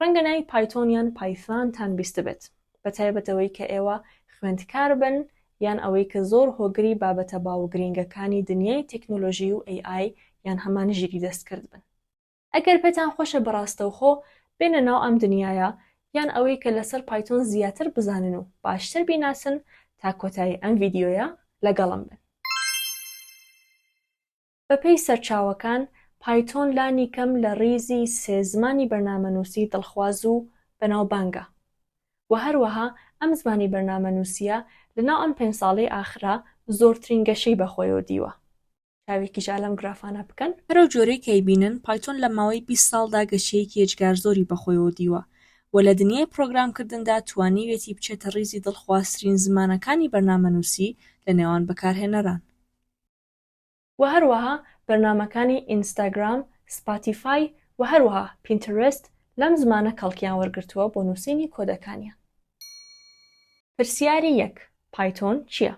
ڕەنگە ناوی پایتۆن یان پایثانتان بیستبێت بە تایبەت ئەوەی کە ئێوە خوێندکار بن یان ئەوەی کە زۆر هۆگری بابەتە باو و گرینگەکانی دنیای تێکنۆلۆژی و AI یان هەمان ژیری دەستکرد بن. ئەگەر پێتان خۆشە بە ڕاستەوخۆ بێنە ناو ئەم دنیایە یان ئەوەی کە لەسەر پایتۆن زیاتر بزانن و باشتر بیناسن تا کۆتایی ئەم ڤیدیۆیە لەگەڵم بن. بەپێی سەرچاوەکان، پایتۆن لانیکەم لە ڕیزی سێ زمانی بەرنامەنووسی دڵخواز و بەناوبانگە و هەروەها ئەم زمانی بەرنامەنووسییە لەناو ئەم پێنج ساڵەی ئاخرا زۆرترین گەشەی بەخۆیەوە دیوە. چاوێکیش ئا لەم گرافانە بکەن. هەرەو جۆرەی کە ئەیبینن، پایتۆن لە ماوەی بیست ساڵدا گەشەیەکی ئێجگار زۆری بەخۆیەوە دیوە و لە دنیای پڕۆگرامکردندا توانیویەتی بچێتە ڕیزی دڵخوازترین زمانەکانی بەرنامەنووسی لەنێوان بەکارهێنەران. وە هەروەها بەرنامەکانی ئینستاگرام، سپاتیفای وە هەروەها پینترست لەم زمانە کەڵکیان وەرگرتووە بۆ نووسینی کۆدەکانیان. پرسیاری یەک، پایتۆن چیە؟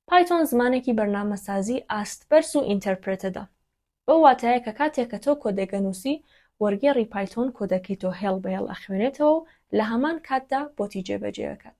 پایتۆن زمانێکی بەرنامەسازی ئاست بەرز و ئینتەرپرێتەدە. بەو واتایە کە کاتێک کە تۆ کۆدێک ئەنووسی، وەرگێڕی پایتۆن کۆدەکەی تۆ هێڵ بە هێڵ ئەخوێنێتەوە و لە هەمان کاتدا بۆتی جێبەجێ ئەکات.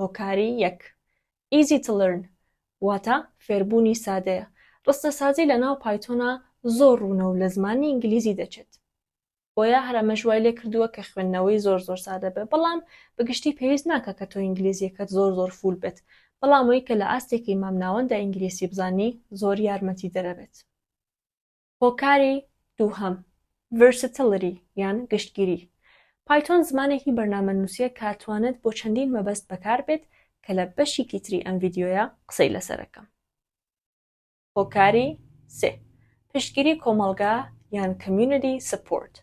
هۆکاری یەک Easy to learn واتە فێربوونی سادەیە، ڕستەسازی لەناو پایتۆنا زۆر ڕوونە و لە زمانی ئینگلیزی دەچێت بۆیە هەر ئەمەش وای لێکردووە کە خوێندنەوەی زۆر زۆر سادە بێ بەڵام بە گشتی پێویست ناکا کە تۆ ئینگلیزیەکەت زۆر زۆر فوول بێت بەڵام ئەوەی کە لە ئاستێکی مامناوەندا ئینگلیسی بزانی زۆر یارمەتیدەرە بێت. هۆکاری دووهەم، Versatility یان گشتگیری، پایتۆن زمانێکی بەرنامەنووسیە کە ئەتوانێت بۆ چەندین مەبەست بەکار بێت کە لە بەشیکی تری ئەم ڤیدیۆیە قسەی لەسەر ئەکەم. هۆکاری سێ، پشتگیری کۆمەڵگا یان Community Support،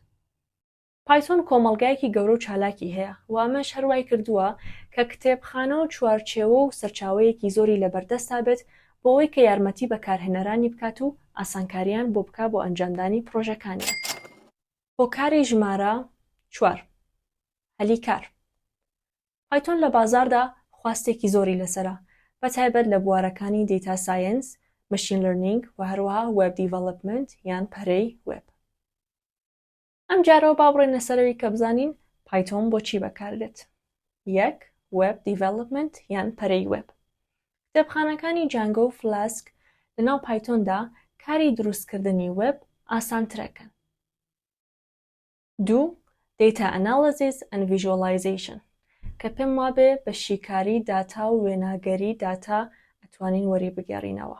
پایتۆن کۆمەڵگایەکی گەورە و چالاکی هەیە و ئەمەش هەر وای کردووە کە کتێبخانە و چوارچێوە و سەرچاوەیەکی زۆری لەبەردەستدا بێت بۆ ئەوەی کە یارمەتی بەکارهێنەرانی بکات و ئاسانکارییان بۆ بکا بۆ ئەنجامدانی پڕۆژەکانیان. هۆکاری ژمارە چوار، هەلی کار. پایتۆن لە بازاڕدا خواستێکی زۆری لەسەرە، بە تایبەت لە بوارەکانی دەیتا ساینس، مەشین لەرنینگ و هەروەها وێب دیڤەڵپمنت یان پەرەی وێب. ئەم جارەوە با بڕێنە سەرەوی کە بزانین پایتۆن بۆ چی بەکاردێت یەک وێب دیڤلوپمنت یان پەرەی وێب کتێبخانەکانی جانگۆ و فلاسک لەناو پایتۆندا کاری دروستکردنی وێب ئاسانترەکەن دوو دیتا ئەناڵزیز ئەن ڤژۆلایزیشن کە پێم وابێ بە شیکاری داتا و وێناگەری داتا ئەتوانین وەری بگەڕینەوە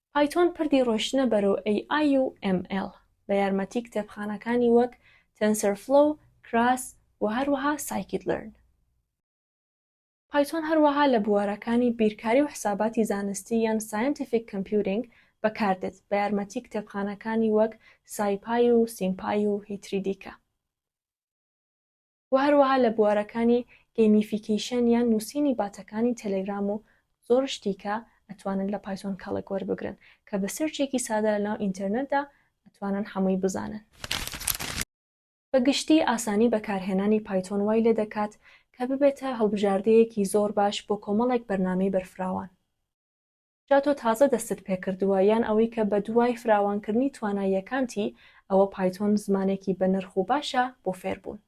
پایتۆن پردی ڕۆشتنە بەرەو AI و ML بە یارمەتی کتێبخانەکانی وەک TensorFlow، Keras، و هەروەها Scikit-learn. پایتۆن هەروەها لە بوارەکانی بیرکاری و حساباتی زانستی یان Scientific Computing بەکاردێت بە یارمەتی کتێبخانەکانی وەک SciPy و SymPy و هیتری دیکە. و هەروەها لە بوارەکانی گەیمیفیکەیشەن یان نووسینی باتەکانی تێلێگرام و زۆر شتی کە ئەتوانن لە پایتۆن کەڵک وەربگرن کە بە سێرچێکی سادە لە ناو ئینتێرنێتدا ئەتوانن هەمووی بزانن. بە گشتی ئاسانی بەکارهێنانی پایتۆن وای لێ دەکات کە ببێتە هەڵبژاردەیەکی زۆر باش بۆ کۆمەڵێک بەرنامەی بەرفراوان. جا تۆ تازە دەستت پێکردووە یان ئەوەی کە بەدوای فراوانکردنی تواناییەکانتی، ئەوە پایتۆن زمانێکی بەنرخ و باشە بۆ فێربوون.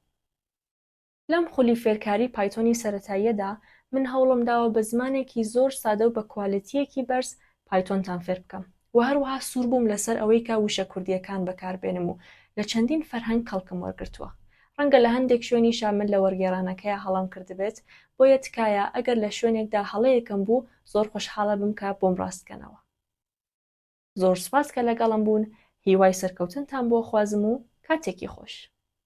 لەم خولی فێرکاری پایتۆنی سەرەتاییەدا، من هەوڵمداوە بە زمانێکی زۆر سادە و بە کوالێتییەکی بەرز پایتۆنتان فێربکەم و هەروەها سووربووم لەسەر ئەوەی کە وشە کوردییەکان بەکاربێنم و لە چەندین فەرهەنگ کەڵکم وەرگرتووە ڕەنگە لە هەندێک شوێنیشا من لە وەرگێڕانەکەیا هەڵەم کردبێت، بۆیە تکایە ئەگەر لە شوێنێکدا هەڵەیەکم بوو زۆر خۆشحاڵەبم کە بۆم ڕاست کەنەوە. زۆر سوپاس کە لەگەڵم بوون، هیوای سەرکەوتنتان بۆ خوازم و کاتێکی خۆش.